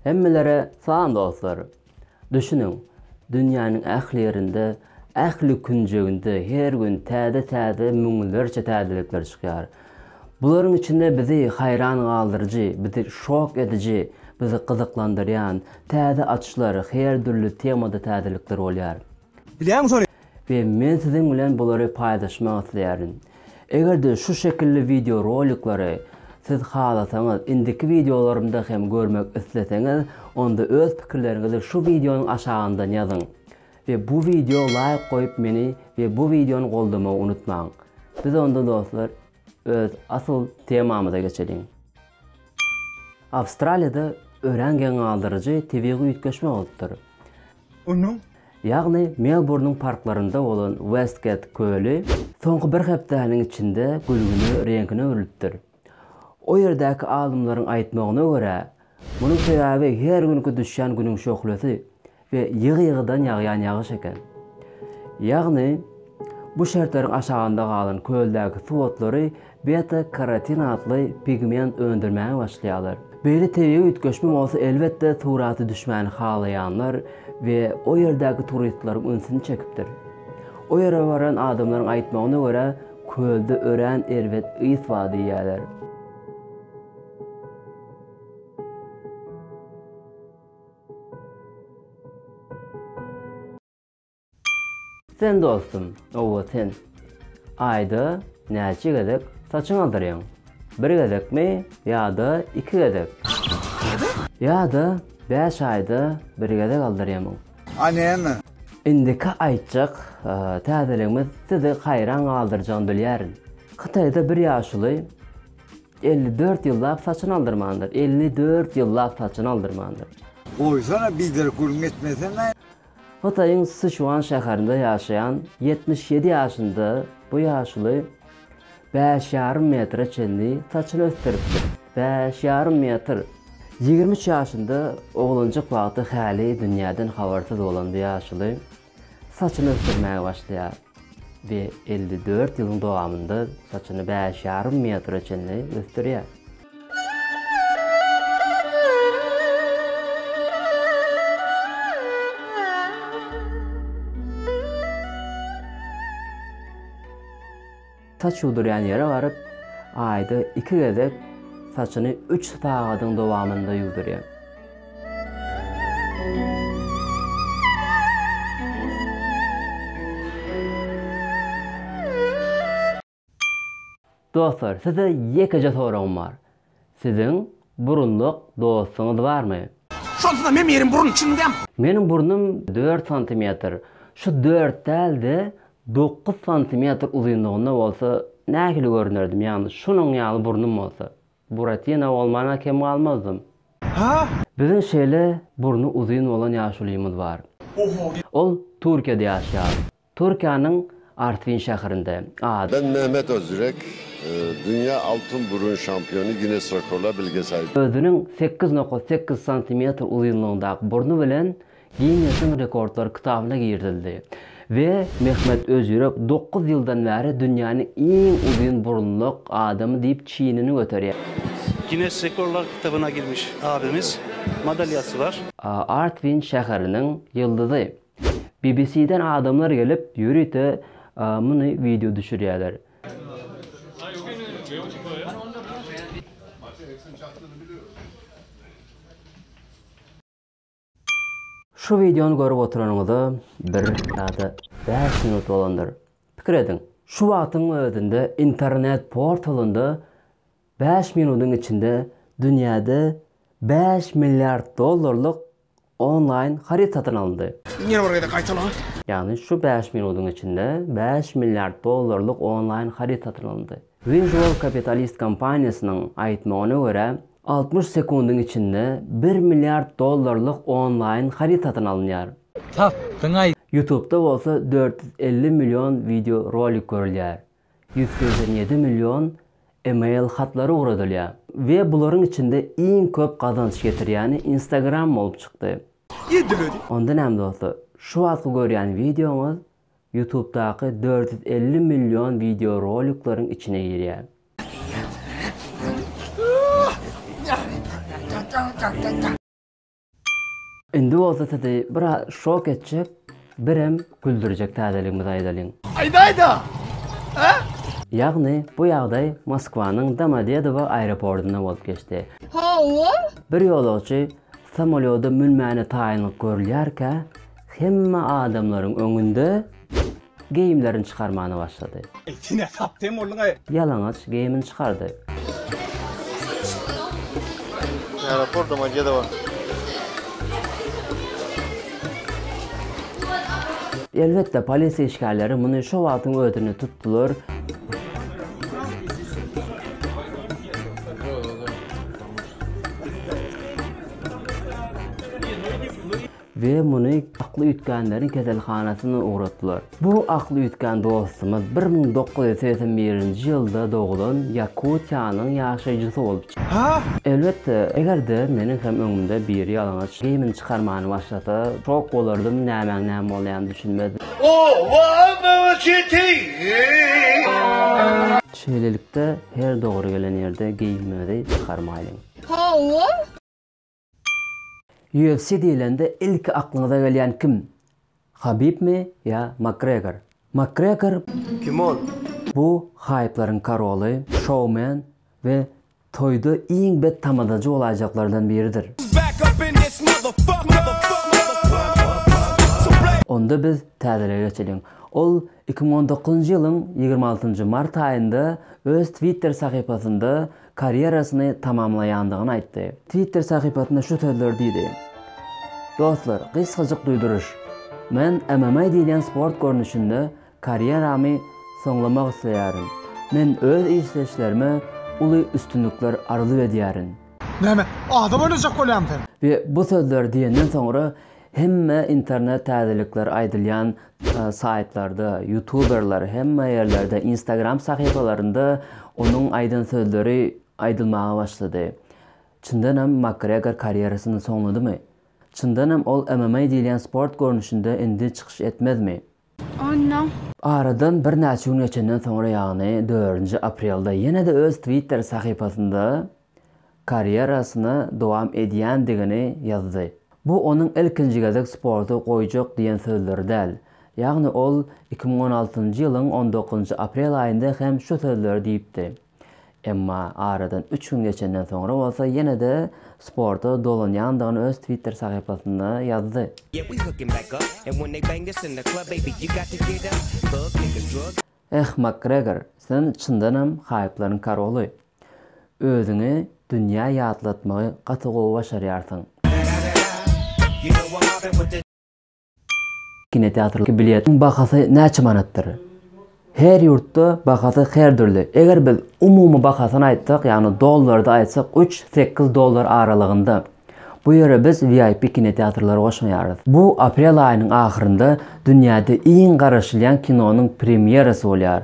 Hemmelere salam dostlar! Düşüniň, dünýäniň ähli ýerinde, ähli künjeginde her gün täze-täze müňlerçe täzelikler çykýar. Bularyň içinde bizi haýran galdyryjy, bizi şok ediji, bizi gyzyklandyrýan täze açyşlar, her dürli temada täzelikler bolýar. Bilýäňmi şony? We men siziň bilen bulary paýlaşmak isleýärin. Eger-de şu şekilli wideo roliklary siz halasaňyz, indiki wideolarymda hem görmek isleseňiz, onda öz pikirleriňizi şu wideonyň aşagyndan ýazyň. We bu wideo laýk goýup meni we bu wideony goldamagy unutmaň. Biz onda dostlar. Öz asyl temamyza geçeliň. Awstraliýada örän geň galdyryjy tebigy üýtgeşme bolupdyr. Onuň. Ýagny Melburnyň parklarynda bolan Westget köli soňky bir hepdäniň içinde gülgüne reňkine öwrülipdir. O ýerdäki alymlaryň aýtmagyna görä, munuň sebäbi her günki düşýän günüň şöhlesi. we ýygy-ýygydan ýagýan ýagyş eken. Ýagny, bu şertleriň aşagynda galan köldäki suw otlary beta-karotin atly pigment öndürmäge başlaýarlar. Beýle tebigy üýtgeşme bolsa elbetde surata düşmäni halaýanlar we o ýerdäki turistlaryň ünsüni çekipdir. O ýere baran adamlaryň aýtmagyna görä, kölde örän erbet ys bar diýýärler. Sen dostum, owa sen. Aýda näçe gezek saçyňy aldyrýaň? Bir gezekmi ýa-da iki gezek? Ýa-da bäş aýda bir gezek aldyrýamy? A näme? Indiki aýtjak täzeligimiz sizi haýran galdyrjagyny bilýärin. Hytaýda bir ýaşuly Elli dört ýyllap saçyny aldyrmandyr. Elli dört ýyllap saçyny aldyrmandyr. Goýsana biderek gürrüň etmesene. Hytaýyň Siçuan şäherinde ýaşaýan ýetmiş ýedi ýaşynda bu ýaşuly bäş ýarym metre çenli saçyny ösdüripdir. Bäş ýarym metr! Ýigrimi üç ýaşynda oglanjyk wagty häli dünýäden habarsyz bolan bu ýaşuly Saçyny ösdürmäge başlaýar we elli dört ýylyň dowamynda saçyny bäş ýarym metre çenli ösdürýär. Saç ýuwdurýan ýere baryp, aýda iki gezek saçyny üç sagadyň dowamynda ýuwdurýar. Dostlar, size ýekeje soragym bar. Siziň burunluk dostuňyz barmy? Şonsuzam emiriň burny çüňňäm. Meniň burnum dört santimetr. Şu dört däl-de, dokuz santimetr uzynlygynda bolsa, nähili görünerdim, ýagny şunuň ýaly burnum bolsa. Buratina bolman-a kem galmazdym. Hä? Biziň şeýle burny uzyn bolan ýaşulymyz bar. Oho! Ol Türkiýede ýaşaýar. Türkiýäniň Artvin şäherinde, ad. Ben Mehmet Özürek, dünýä altyn burun şampiony, Ginnes rekorlar bilgesaýy. Özüniň sekiz nokat sekiz santimetr uzynlygyndaky burny bilen Ginnesiň rekordlar kitabyna girizildi we Mehmet Özürek dokuz ýyldan bäri dünýäniň iň uzyn burunluk adamy diýip çinini göterýär. Ginnes rekorlar kitabyna girmiş abimiz madalýasy bar. Artvin şäheriniň ýyldyzy. Bbc-den adamlar gelip, ýörite muny wideo düşürýärler. Şu wideony görüp oturanyňyza bir ýa-da bäş minut bolandyr. Pikir ediň, şu wagtyň özünde internet portalynda bäş minutyň içinde dünýäde bäş milliard dollarlyk onlaýn haryt satyn alyndy. Ýene bir gezek gaýtala. Ýagny şu bäş minudyň içinde bäş milliard dollarlyk onlaýn haryt satyn alyndy. Visual Capitalist kompaniýasynyň aýtmagyna görä, altmyş sekundyň içinde bir milliard dollarlyk onlaýn haryt satyn alynýar. Tapdyň-aý! Ýutubda bolsa dört ýüz elli million wideo rolik görülýär. Ýüz segsen ýedi million email hatlary ugradylýar we bularyň içinde iň köp gazanç getirýäni Instagram bolup çykdy. Edil özi. Onda näme dostlar, şu wagtky görýän wideoňyz Ýutubdaky dört ýüz elli million wideo rolikleriň içine girýär. Indi bolsa sizi biraz şok etjek, birem güldürjek täzeligimizi aýdalyň. Aýdaýda! Hä? Ýagny, bu ýagdaý Moskwanyň Domodedowo aeropordynda bolup geçdi. Hawa? Bir ýolagçy samolýoda münmäne taýynlyk görülýärkä, hemme adamlaryň öňünde. Geýimlerini çykarmana başlady. Eý, sen näçe aptem bolduň-aý? Ýalaňaç geýimini çykardy. Aeroportda-ma gede bar. Elbetde, polisiýa işgärleri muny şo wagtyň özünde tutdular. We muny akly üýtgänleriň keselhanasyna ugratdylar. Bu akly üýtgän dostumyz bir müň dokuz ýüz segsen birinji ýylda doglan Ýakutiýanyň ýaşaýjysy bolup çykdy. Elbetde, eger-de meniň hem öňümde biri ýalaňaç geýimini çykarmany başlasa, şok bolardym, nämäň näme bolýanyny düşünmezdim. Şeýlelikde, her dogry gelen ýerde geýimiňizi çykarmaýlyň. UFC diýlende ilki aklyňyza gelýän kim? Habibmi ýa Makgregor? Makgregor kim ol? Bu haýplaryň karoly, şoumen we toýda iň bet tamadajy bolaýjaklardan biridir. Onda biz täzelige geçeliň. Ol Iki müň on dokuzynjy ýylyň ýigrimi altynjy mart aýynda öz Twitter sahypasynda karýerasyny tamamlaýandygyny aýtdy. Twitter sahypasynda şu sözleri diýdi, Dostlar, gysgajyk duýduryş. Men MMA diýilýän sport görnüşinde karýeramy soňlamak isleýärin. Men öz işleýşlerime uly üstünlikler arzuw edýärin. Näme, ada boýlajak bolýamy sen? We bu sözleri diýenden soňra Hemme internet täzelikler aýdylýan saýtlarda, ýutuberler hemme ýerlerde, instagram sahypalarynda onuň aýdan sözleri aýdylmaga başlady. Çyndanam Makgregor karýerasyny soňladymy? Çyndanam ol MMA diýilýän sport görnüşinde indi çykyş etmezmi? Onnoň. Aradan birnäçe gün geçenden soňra ýagny dördünji aprelde ýene-de öz twitter sahypasynda karýerasyny dowam edýändigini ýazdy. Bu onuň ilkinji gezek sporty goýjak diýen sözleri däl. Ýagny ol iki müň on altynjy ýylyň on dokuzynjy aprel aýynda hem şu sözleri diýipdi. Emma aradan üç gün geçenden soňra bolsa ýene-de sporta dolanýandygyny öz Twitter sahypasynda ýazdy. Eh, Makgregor, sen çyndanam haýplaryň karoly. Özüňi dünýä ýatlatmagy gaty gowy başarýarsyň. Kinoteatr biletiniň bahasy näçe manatdyr? Her ýurtda bahasy her dürli. Eger biz umumy bahasyny aýtsak, ýagny dollarda aýtsak, üç, sekiz dollar aralygynda. Bu ýere biz VIP kinoteatrlary goşmaýarys. Bu aprel aýynyň ahyrynda dünýäde iň garaşylýan kinonyň premýerasy bolýar.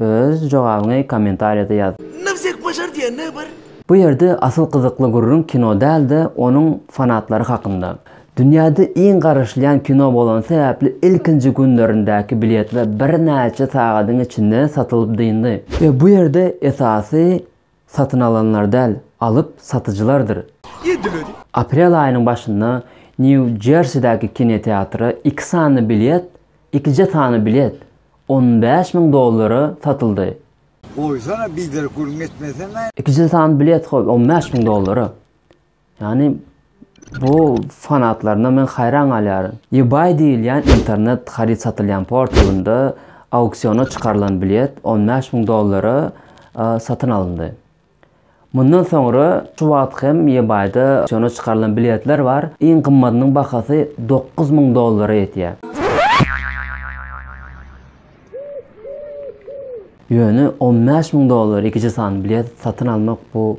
Öz jogabyňy kommentariýada ýaz. Nowzek başar diýende bir. Bu ýerde asyl gyzykly gürrüň kino däl-de onuň fanatlary hakynda. Dünýäde iň garaşylýan kino bolany sebäpli ilkinji günlerindäki biletler birnäçe sagadyň içinde satylyp dyndy. Bu ýerde esasy Satyn alanlar däl, alyp satyjylardyr. Aprel aýynyň başynda Nýu-Jersidäki kinoteatra iki sany bilet, ikije sany bilet, on bäş müň dollara satyldy. Goýsana biderek gürrüň etmesene. Ikije sany bilet goý, on bäş müň dollara. Ýagny bu fanatlaryna men haýran galýaryn. Ebay diýilýän internet haryt satylýan portalynda auksiona çykarylan bilet on bäş müň dollara satyn alyndy. Mundan soňra şu wagt hem Ebayda auksiona çykarylan biletler bar, iň gymmadynyň bahasy dokuz müň dollara ýetýär. Ýöne on bäş müň dollara ikiji sany bilet satyn almak bu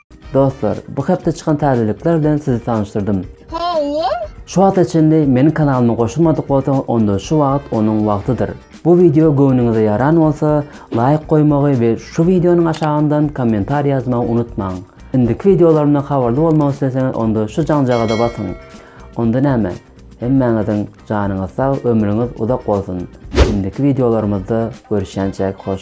Dostlar, bu hepde çykan täzelikler bilen sizi tanyşdyrdym. Hawa. Şu wagta çenli meniň kanalyma goşulmadyk bolsaň onda şu wagt onuň wagtydyr. Bu wideo göwnüňize ýaran bolsa laýk goýmagy we şu wideonyň aşagyndan kommentariý ýazmagy unutmaň. Indiki wideolarymdan habarly bolmak isleseňiz onda şu jaňjagaza basyň. Onda näme? Hemmäňiziň janyňyz sag, ömrüňiz uzak bolsun. Indiki wideolarymyzda görüşýänçäk hoş.